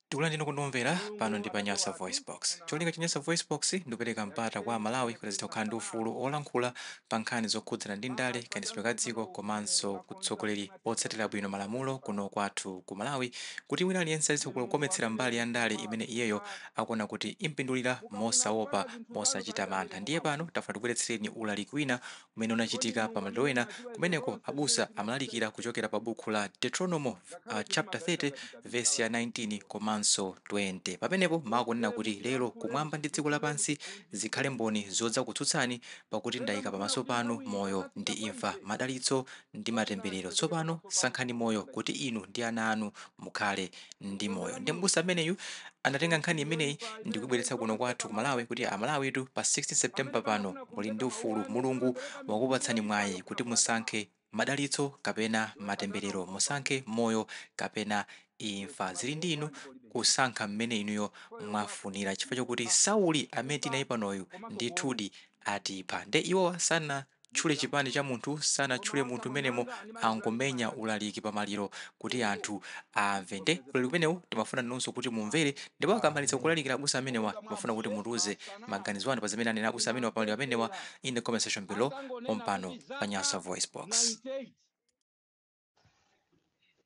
tikulandireni omvera pano ndi pa nyasa voice box cholinga cha nyasa voice box ndikupereka mpata kwa amalawi kuti azitha kukhala ndi ufulu wolankhula pa nkhani zokhudzana ndi ndale kayendetsedwe ka dziko komanso utsogoleri otsatira bwino malamulo kuno kwathu ku malawi kuti wina aliyense azitha kukometsera mbali ya ndale imene iyeyo akuona kuti impindulira mosaopa mosachita mantha ndiye pano tafuna tibweretsereni ulaliki wina umene unachitika pa maliro ena kumeneko abusa amalalikira kuchokera pa bukhu la deuteronomo uh, chapter 30 verse ya 19 komanso 20 pamenepo mawu akunena kuti lero kumwamba ndi dziko lapansi zikhale mboni zodzakutsutsani pakuti ndayika pamaso panu moyo ndi imfa madalitso ndi matemberero tsopano sankhani moyo kuti inu ndi ana anu mukhale ndi moyo nde mbusa ameneyu anatenga nkhani imeneyi ndi kuibweretsa kuno kwathu ku malawi kuti amalawitu pa 16 september pano muli ndi ufulu mulungu wakupatsani mwayi kuti musankhe madalitso kapena matemberero musankhe moyo kapena imfa zili ndi inu kusankha mmene inuyo mwafunira chifukwa chokuti sauli amene tinaye panoyu ndithudi atipha nde iwowa sana tchule chipani cha munthu, sanatchule munthu mmenemo, angomenya ulaliki pa maliro kuti anthu amve. Nde ulaliki umenewu timafuna nanunso kuti mumvere ndipo akamaliza kulalikira abusa amenewa, timafuna kuti mutiuze maganizo anu pa zimene anena abusa amenewa pa maliro amenewa in the comment section below pompano pa Nyasa VoiceBox.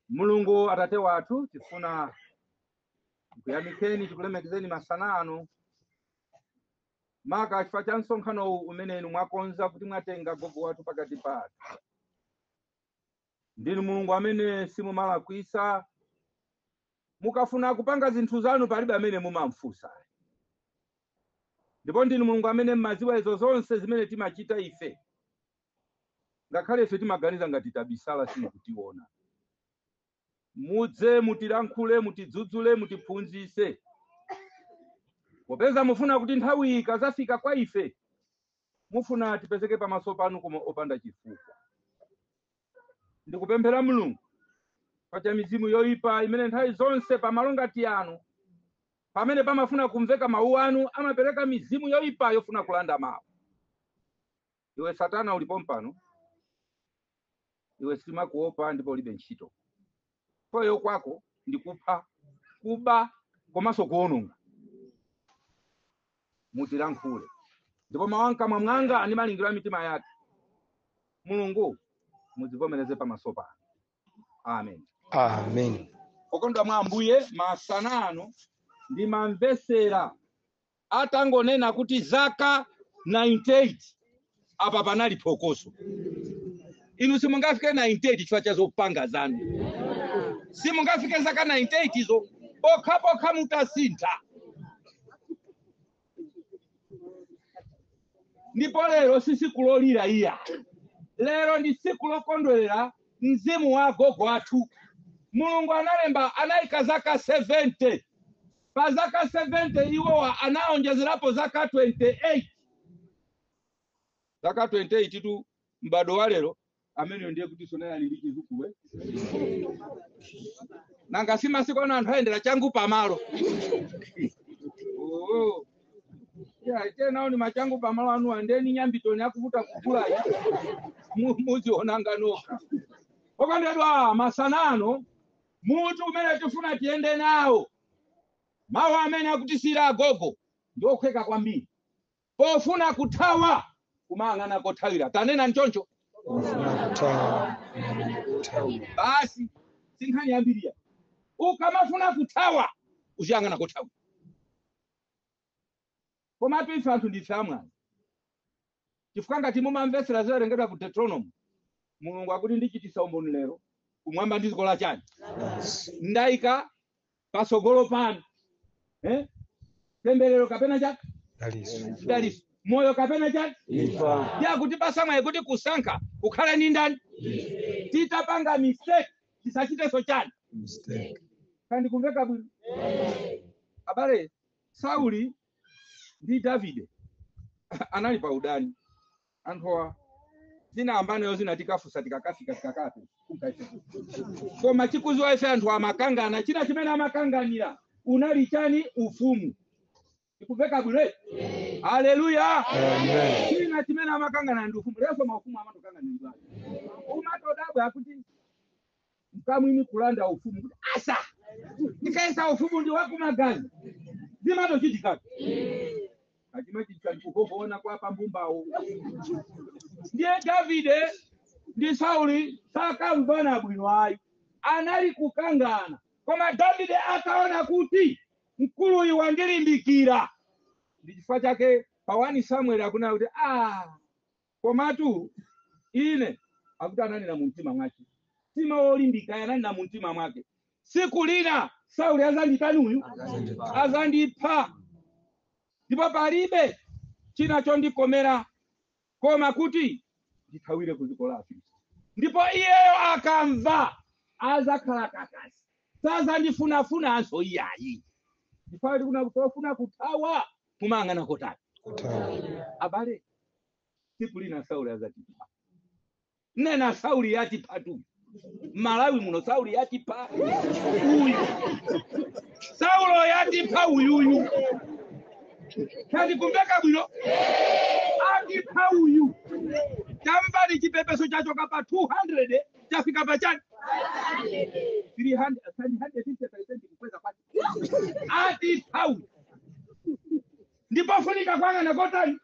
mulungu atate wathu tifuna kuyamikeni tikulemekezeni masana ano maka chifukwa cha msonkhanowu umene inu mwakonza kuti mwatenga gogo wathu pakati pathu ndinu mulungu amene simumalakwisa mukafuna kupanga zinthu zanu palibe amene mumamfunsa ndipo ndinu mulungu amene mmaziwa izo zonse zimene timachita ife ngakhale ife timaganiza ngati tabisala simukutiona mudze mutilankhule mutidzudzule mutiphunzise popeza mufuna kuti nthawi iyi ikazafika kwa ife mufuna tipezeke pamaso panu koma opanda chifukwa ndikupemphera mulungu pa za mizimu yoyipa imene nthawi zonse pamalo ngati ano pamene pamafuna kumveka mawu anu amapereka mizimu yoyipa yofuna kulanda mawu Iwe Satana uli pompano, ife sitimakuopa ndipo ulibe ntchito. Poti kwako ndi kupha, kuba komanso kuwononga. Mutilankhule ndipo mawu a mkamwa mwanga ndi malingaliro a mitima yathu, Mulungu muzivomereze pamaso panu. Amen. Amen. Okondwa mwa Ambuye, masana ano ndimamvesera atangonena kuti zaka 98 apa panali phokoso inu simungafike 98 chifukwa cha zopanga zanu simungafike zaka 98 izo pokha pokha mutasintha ndipo lero si tsiku lolira iyayi lero ndi tsiku lokondwerera mzimu wa agogo athu mulungu analemba anayika zaka 70 Pa zaka 70 iwowa anaonjezerapo zaka 28 zaka 28 tu m'bado wa lero ameneyo ndiye kuti tsono ali ndi chidzukulu nanga si masiku ano anthu akuyendera changu pamalo Oo. Yeah, tanenani machangu pamalo anu andeni nyambitoni akuvuta kugula muzionatu nokha okondedwa masana ano mutu umene tifuna tiyende nawo mawu amene akutisiyira agogo ndi okhweka kwambiri pofuna kuthawa kumayang'ana kothawira tanena nchoncho Pofuna kuthawa kumayang'ana kothawira. basi sinkhani yambiriya ukamafuna kuthawa uziyang'ana kothawira Komatu ife anthu ndife amwayi, chifukwa ngati mumamvetsera zowerengedwa ku Deuteronomo, Mulungu akuti ndichitisa umboni lero kumwamba ndi dziko lachani ndaika patsogolo panu eh? temberero kapena chani daliso moyo kapena chani imfa akutipasa mwayi kuti kusankha kukhale ndi ndani titapanga mistake tisachitenso chani kodi ndikumveka bwino abale Sauli ndi Davide anali pa udani anthuwa zimene ankayambanazo zina tikafusa tikakafika tikakati kumkaisa koma tikuziwa ife anthu amakangana china chimene amakanganira unali chani ufumu ikuveka bwino eti? haleluya Amen. china chimene amakangana ndi ufumu lero maufumu amatokangana ndi bwana umatodabwa kuti mkamwini kulanda ufumu kuti asa ndikaisa ufumu ndi wa kumagazi zimatochitikatu zimachitika ndikungoona kwa pambumbawo ndiye davide ndi sauli sakamvana bwino ayi anali kukangana koma davide akaona kuti mkuluyu wandilimbikira ndi chifukwa chake pa 1 samueli akunena kuti ah Komatu ine, akuti ananena mu mtima mwake, si mtima wolimbika, ayi, ananena mu mtima mwake, siku lina Sauli azanditani uyu, azandipha, ndipo palibe china chondikomera koma kuti ndithawire ku dziko la Afilisti. Ndipo iyeyo akamva azakhala kakasi, sazandifunafunanso iyayi. Chifukwa tikuna kutofuna kuthawa, mumayang'ana kotani? Abale, tsiku lina sauli azatipha nena sauli yatiphatu malawi muno sauli yatipha uyu saulo yatipha uyuyu tatikumveka bwino atipha uyu tamvani chipepeso chachoka pa 200 chafika pa chani 300 350 kukweza kwati atipha uyu ndi pofunika kuyang'ana kotani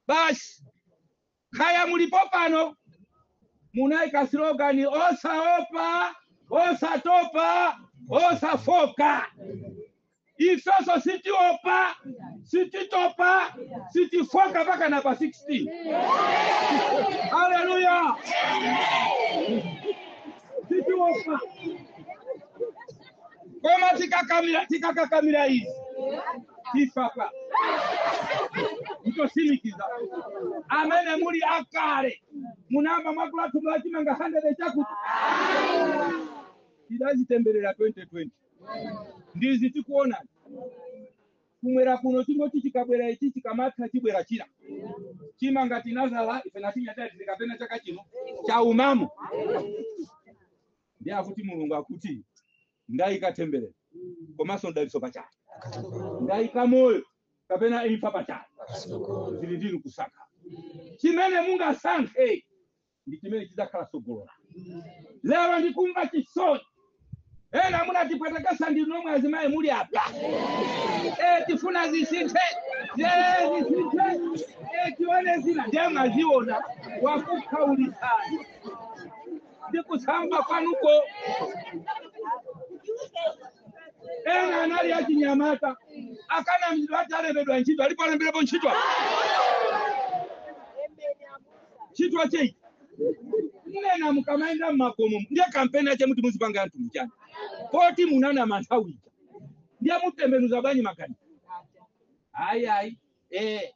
basi kaya mulipo pano munaika slogani osaopa osatopa osafoka ifeso sitiopa sititopa sitifoka mpaka napa 16 haleluya sitiopa koma tikakamira tikakakamira izi tivota ndosimikiza amene muli akale munayamba mwagula thumba la chimanga 100 chakuti tidazitemberera 2020 ndizi tikuona kumwera kuno chingoti chikabwera ichi chikamatha chibwera china chimanga tinazala ife natinyatati tikapena chaka chino chaumamo ndiye akuti mulungu akuti ndayika temberero komanso mdalitso patsogolo ndayika moyo kapena imfa patsogolo zili ndinu kusankha chimene mungasankhe ndi chimene chidzakhala tsogolo lanu lero ndikumva chisoni ena munatipwetekesa ndinu nomwe azimayi muli apa Eh, tifuna zisinthe Eh, zisinthe Eh, tione zina ndiye mwaziona wakukhaulitsani ndi kusamba kwanuko ena anali achinyamata akanamizidwa ati alembedwa ntchito alipo alemberepo ntchito apa? ntchito chei nde mukamaenda mmakomo ndiye kampeni ache muti muzipanga anthu mchiyani poti munanama nthawi ija ndiye mutembenuza bwanji makani ayi ayi eh,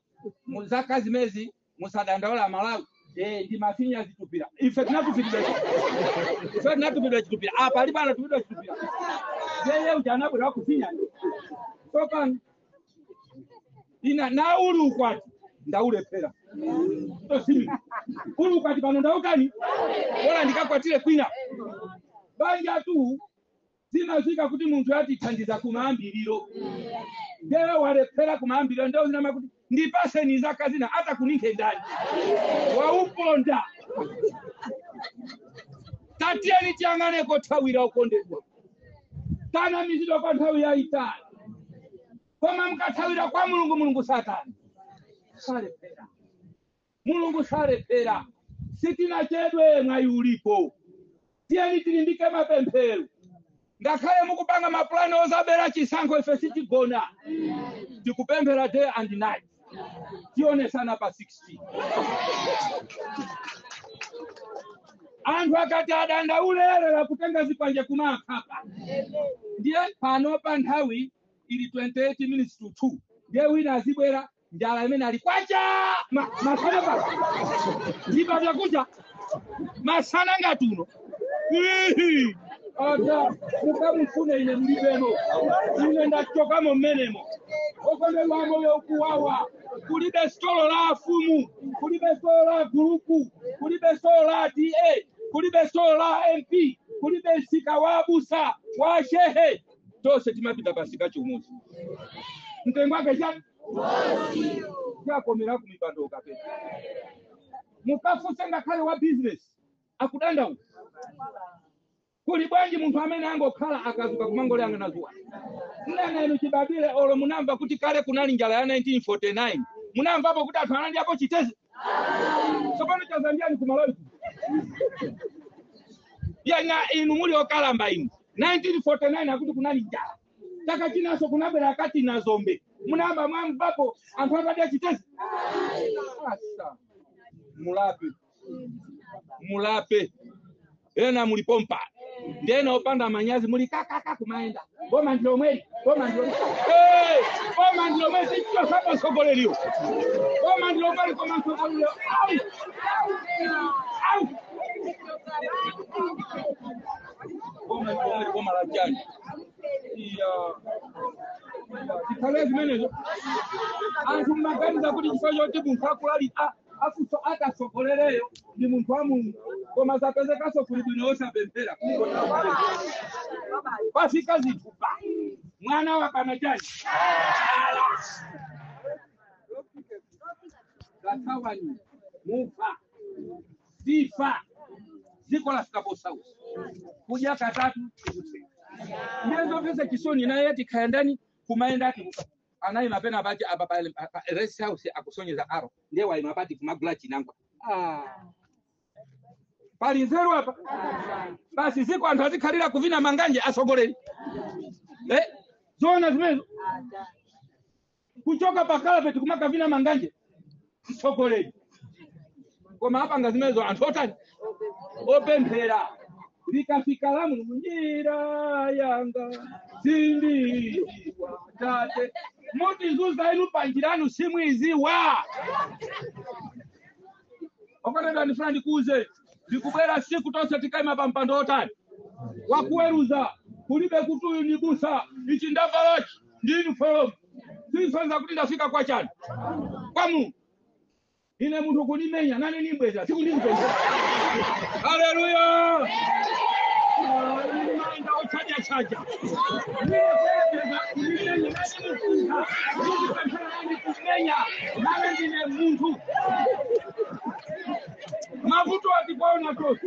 muzaka zimezi musadandaule amalawi eh, ndi mafinya zitupira ife tinatupidwa ife tinatupidwa chitupira apa alipo anatupidwa chitupira yeye uja anabwera wakufinyani sopano ina na uli ukwati ndaulephera tosimi uli ukwati pano ndautani bora ndikakwatire kwina banjatu zimadziwika kuti munthu atithandiza kumayambiriro ndiye walephera kumayambiriro nde azinama kuti ndipaseni zaka zina adzakuninkhe ndani wauponda tatiyeni tiyang'ane kothawira okondedwa tanamizidwa kwa nthawi yayitali koma nkathawira kwa mulungu mulungu sachitani salephera Mulungu salephera. Sitinachedwe, mwayi ulipo. Tiyeni tilimbike mapemphero. Ngakhale mukupanga mapulani ozabera chisankho, ife sitigona. Tikupemphera day and night. Tionesana pa 16. Anthu akati adandaule eee kutenga zikwanje kumakhapa. Ndiye pano pa nthawi ili 28 minutes to 2. Ndiye wina azibwera njala imene ali kwacha ma- masana pano ndipakudya kudya masana ngati uno Ihi! Ada, mukamufune ine mulibemo ine ndachokamo mmenemo okondedwa moyo ukuwawa kulibe sitolo la afumu kulibe sitolo la gulupu kulibe sitolo la da kulibe sitolo la mp kulibe msika wa abusa wa shehe tonse timapita pamsika chimodzi mtengo wake chani yakomera kumipando mukapita mukafunse ngakhale wa business akudandaula kuli bwanji munthu amene angokhala akadzuka kumangoliyang'ana dzuwa nnena inu chibadwire olo munamva kuti kale kunali njala ya 1949 munamvapo kuti anthu anadyapo chitedze tsopano chaza nchiyani kumalawi kuno. ena inu muli okalamba inu 1949 akuti kunali njala chaka chinanso kunabwera akati na dzombe munayamba mwamvapo anthu atadya chitedze asa mulape mulape ena muli pompa ndena opanda manyazi muli kakaka kumayenda boma ndilomweli boma ndilomweli Eh, boma ndilomweli sinthani sapa mtsogoleriyo boma ndilomweli koma mtsogoleriyo au au boma boma boma la chani iya zikhale zimenezo anthu mmaganiza kuti chifukwa choti munthu akulali a- afuso akatsogolereyo ndi munthu wa mulungu koma zapezekanso kuli bwino osapemphera pafika zinthu pa mwana wakana chani kathawani mufa chifukwa dziko lafika posautsa kudya katatu tikutseka ndiye zomvetsa chisoni naye ati kaya ndani kumayenda ati kuka- anayima pena pati apa pa pa rest house akusonyeza arrow ndiye wayima pati kumagula chinangwa ah. pali nzeru apa basi ziko anthu azikhalira kuvina manganje atsogoleri eh? zoona zimezo kuchoka pa kalapeti kumakavina manganje mtsogoleri koma apanga zimenezo anthu otani opemphera likafika lamu njira yanga sindiwa tate mutizunza inu panjiranu simuiziwa okondedwa ndifuna ndikuuze likubwera tsiku tonse tikaima pa mpando otani wakuweruza kulibe kuti uyu ni busa ichi ndavalachi ndi yunifolomu sisonza kuti ndafika kwa chani kwa mulungu ine munthu kunimenya nane nimbweza sikundizipeza haleluya manda ochaja chaja kumenya nane ndine munthu mavutowa tikuwaona tonse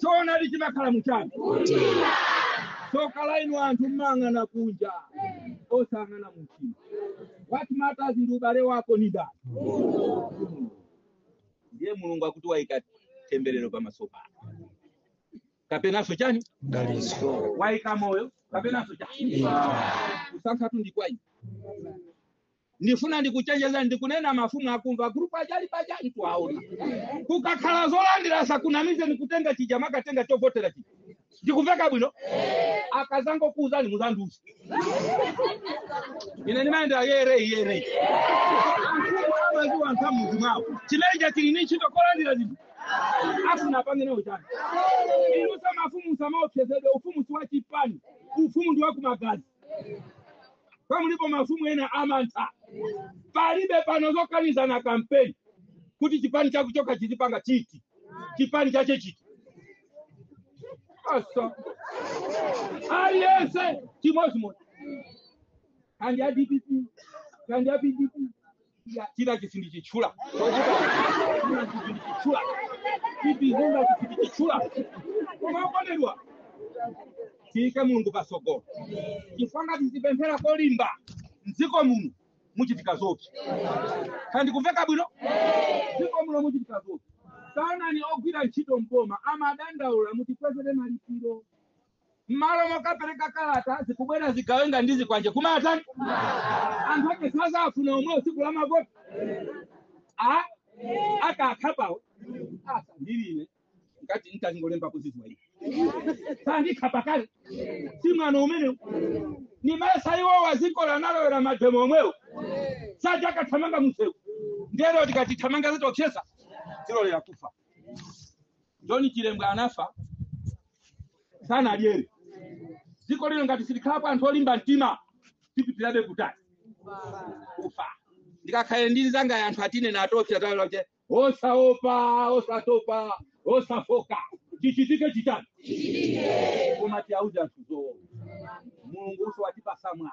choonadi chimakhala muchani Mtima. tsoka la inu anthu mmang'ana kunja osang'ana mumtima what matters ndi ubale wako ni ndani ndiye mulungu akuti waika temberero pamaso pako kapenanso chani Dalitso. waika moyo kapenanso chani Imfa. kusankhatu ndi kwa inu ndifuna ndikuchenjezeni ndikunena mafumu akumva gulupu aja ali paja ndikuwaona kukakhala zolandira asakunamizeni kutenga chija makatenga chovotera chija ndikumveka bwino akazangokuuzani muzandiuze ine ndimayendera yere yere anthuwo amaziwa anthu ammudzi mwawo chimeja chili ni ntchito kolandira zinthu afuna apange nawo chani inunso mafumu musamaopsezedwe ufumu si wa chipani ufumu ndi wakumagazi kaya mulipo mafumu ena amantha palibe pano zokanizana kampeni kuti chipani chako chokha chizipanga chiti chipani chache chiti asa aliyense chimodzimodzi kaya ndi a dpp kaya ndi a pdp Ya, chinachi sindichitchula chinachi sindichitchula chipizinachi sindichitchula koma okondedwa tiike mulungu patsogolo chifukwa ngati sitipemphera kolimba mdziko muno muchitika zoopsa kaya ndikumveka bwino mdziko muno muchitika zoopsa taonani ogwira ntchito mboma amadandaula mutikwezere malipiro mmalo mokapereka kalata zikubwera zigawenga ndi zikwanje kumatan anthu ake sadzafuna omwe tsiku la mavoti akakhapawo asandilire ngati ntazingolemba kudziwa ivi sandikhapa kale si mwano umenewu nimayesa iwowa dziko analowera mademo omwewo saja akathamanga msewu ndero tikatithamanga zitokhesa zilolera kufa joni chilembwe anafa sanadyerere dziko lino ngati simukhala anthu olimba mtima tipitirabe kutali kufa ndikakhale ndi nyanga ya anthu atinene atopsa tawache osaopa osatopa osafooka chichitike chitani koma tiauze anthu zoona mulungu uzo watipatsa mwayi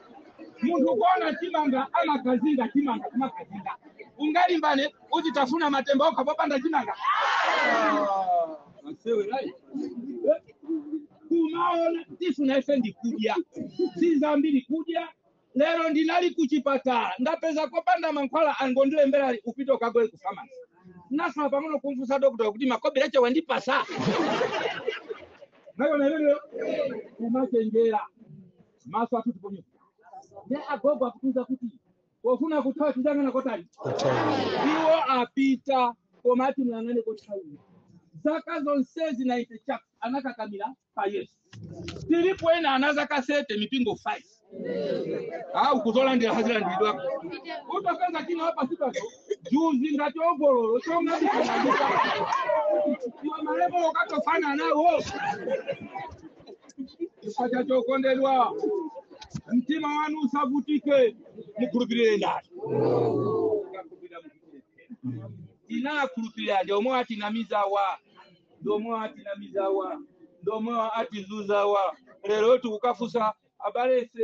munthu kuona chimanga amakazinga chimanga kumakazinga ungalimbane kuti tifuna matemba okha popanda chimanga kumaona tifuna ife ndi kudya si zambiri kudya lero ndinali kuchipatala ndapeza kopanda mankhwala angondilembera upite ukagule ku famasi nasala pang'ono kumfunsa dokota kuti makobiri ake wandipatsa nayo nayo kumachenjera maso athu tiponyepo ndi agogo akutiuza kuti pofuna kuthawa tiziyang'ana kotani iwo apita koma ati muyang'ane kothawira zaka zonsezi 90 chap anakakamira pa yesu tilipo ena ana zaka 30 mipingo 5 akuzalandira hazilandiridwako utapeza china hapa sipaso juzi ngati ogololo chongabikanaiwa malemba akatofana nawo chifukwa chacho okondedwa mtima wanu usavutike mukhulupirire ndani tinakhulupirira ndi omwe atinamizawa ndi omwe atinamizawa ndi omwe atizuzawa lero tikukafunsa adilesi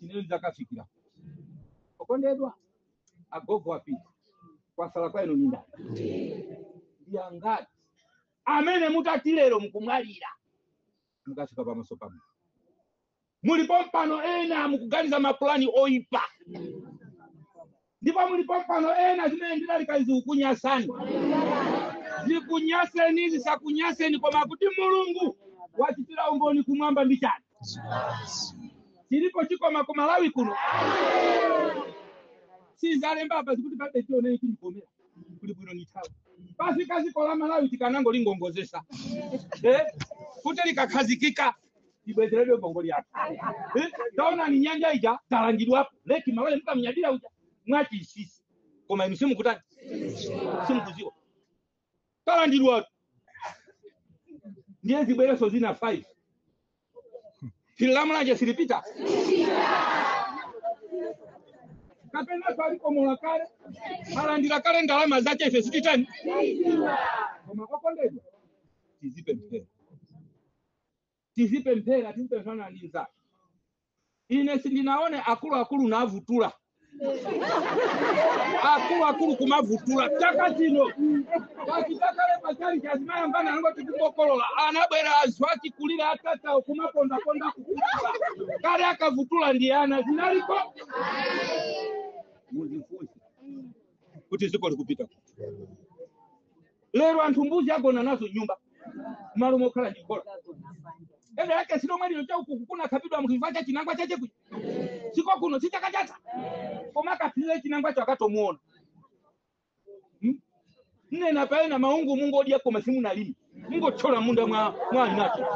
ineyo ndakafikira okondedwa agogo apita kwasala kwa inu nindani ndi angati amene mutati lero mukumwalira mukafika pamaso pamwe muli pompano ena mukuganiza mapulani oyipa ndipo muli pompano ena zimene ndilalikazi zikukunyasani zikunyaseni zisakunyaseni koma kuti mulungu wachitira umboni kumwamba ndi chani chilipo chikoma ku malawi kuno sazalemba apa zikuti palibe chioneni chilikomera kuli bwino nthawi yafika ziko la malawi tikanangolingongozesa eh? kuti likakhazikika ibwezeredwe mbongoli yake Eh, taonani nyanja ija talandidwapo leki malawi mukamunyadira uja mwachisisi koma inu simukutani simukuziwa talandidwa ndiye zibwereso zina 5 yiliMulanje silipita kapena kwalikomoka kale analandira kale ndalama zace ife sititani koma okondedwa tizipe mpera tizipemphera tizipempherana ndi mzake ine sindinaone akuluakulu navutula akuluakulu kumavutula chaka chino pachita kale pachali chazimayambana angoti kukokolola anabwera anthu achikulira atatawo kumapondaponda kukutula kale akavutula ndi ana zinaliko muzifunse kuti dziko likupita kuti lero anthu mbuzi agona nazo nyumba malo mokhala ndi khola ndiye chaka chimene chomwe chino chakukuku kunakhapidwa munthu chifukwa cha chinangwa chache kuja siko kuno sichakachatha koma akaphirire chinangwa cho akatomuona Hmm? ndinena palena maungu mungokudya koma simunalimi mungothyola munda mwa anzanu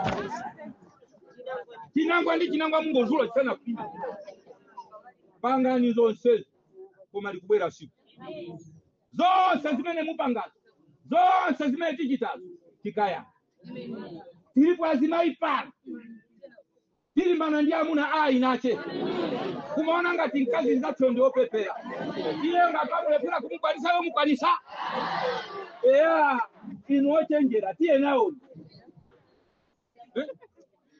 chinangwa ndi chinangwa mungozula chisanakhwime pangani zonse koma likubwera siku zonse zimene mupangazo zonse zimene tichitazo tikayankha tilipo azimayi pano tilimbana ndi amuna a inache kumaona ngati mkazi mzathu ndi opepera iye ngati amulephera kumukwanisa yomukwanisa eya inu ochenjera tiye nawo Eh?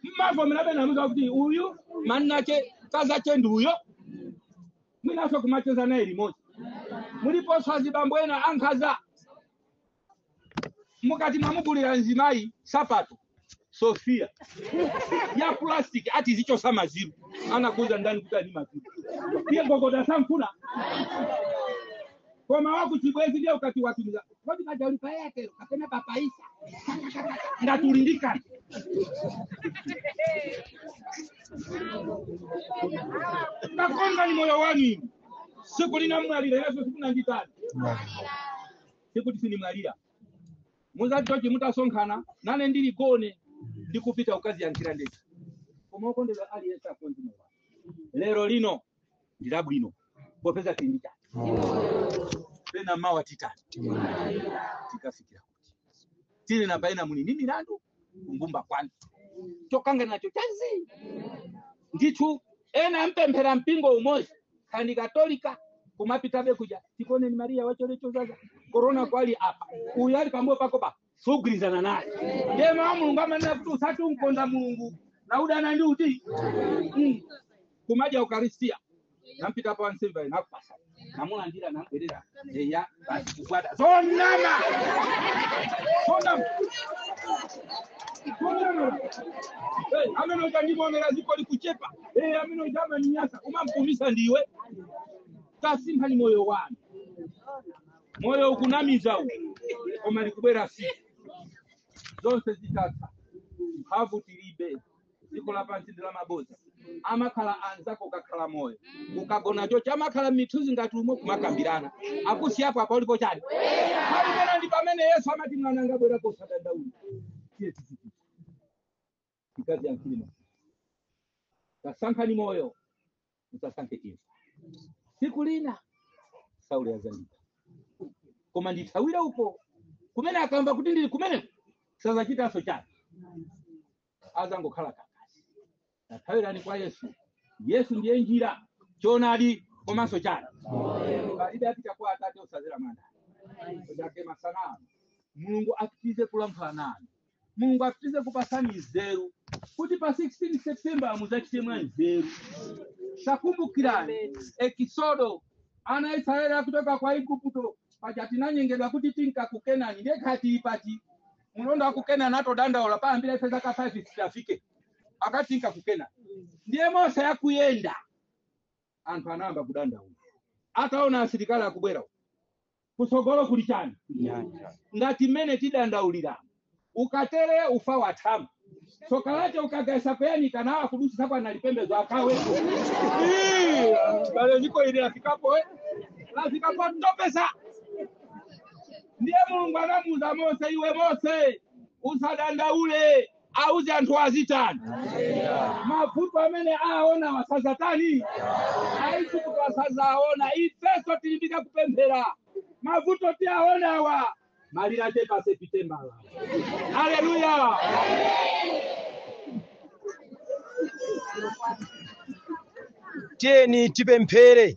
mmavomera pena amuza kuti uyu mwamuna wache mkazache ndi uyo mwinaso kumacheza naye limodzi muliponso azibambo ena ankhaza mukati mwamugulira mzimayi sapato sofia ya plastic ati zichosa mangolomera anakuuza ndani kuti ali maziro iye gogoda sanfuna koma wakuchibwezi ndiye ukati watumiza kodi kaya ulipa yake kapena papaisa ndatulindika nakonza ni moyo wanu siku lina mwalira yesu siku nangitani siku tisinimwalira muzati chonchi mutasonkhana nane ndili gone ndikupita ukaziyankhira ndekha koma okondedwa aliyense akonze moyo wake lero lino ndi labwino popeza tili ndi chani pena mawa titani tikafikira kuti tili na paena muli ni milandu kunyumba kwanu chokangana nacho chanji ndithu ena mpemphera mpingo umodzi kaya ndi Katolika kumapitabe kuja tikuoneni Mariya wa chaulere chodzaza korona kwa uli apa uyu ali pambuyo pako pa sugwirizana naye ndiye mawu a mulungu amanena kuti usati umkonda mulungu na udana ndi uti Mm. kumadya ukaristia nampita pa wansembe ayi nakupasa namulandira nambwerera eya basi kukwata zonama zonama zonama Eh, amene uja ndimuonera ziko likuchepa Eh, amene uja amaninyasa umamkumisa ndiwe tasinthani moyo wanu moyo ukunamiza uwu koma likubwera siku zonse zitatha mphamvu tilibe dziko lapansi ndi lamabodza amakhala anzako ukakhala moyo ukagona chocho amakhala m'mithunzi ngati umo kumakambirana akusiyapo apa ulipo chani pamene ndi pamene yesu amati mwananga bwera usadandaule tiye tizipita mkazi ya mkilima tasankhani moyo musasankhe imfa siku lina sauli azandipha koma ndithawire uko kumene akamva kuti ndili kumeneko sazachitanso chani azangokhala kakasi tathawirani kwa yesu yesu ndiye njira choonadi komanso chani palibe apita kwa atate osazera mwa ndani chake masana ano mulungu apitize kulankhula nanu mulungu apitize kupasani nzeru kuti pa 16 september muzachite mwa nzeru takumbukirani ekisodo ana a israeli akutoka kwa igupto paja tinanyengedwa kuti tinka ku kenani nde kaya tili pati mulendo wa ku kenani atodandaula payambira ife zaka 5 sitafike akati tinka ku kenani ndiye mose akuyenda anthu anayamba kudandaula ataona asilikali akubwera uku. kutsogolo kuli chani nyanja ngati mmene tidandaulira ukatere ufa wathamu tsoka lake ukagaisa poyanika nawo akudusisa kwa nalipembezo akawe Ii, abale dziko ili lafikapo eh? lafika potopesa ndiye mulungu anamuuza mose iwe mose usadandaule auze anthu azitani mavuto amene aonawa sazatani aiguputowa sazaona ifeso tilimbike kupemphera mavuto tiaonawa malire ake pa sepitembala haleluya tiyeni tipemphere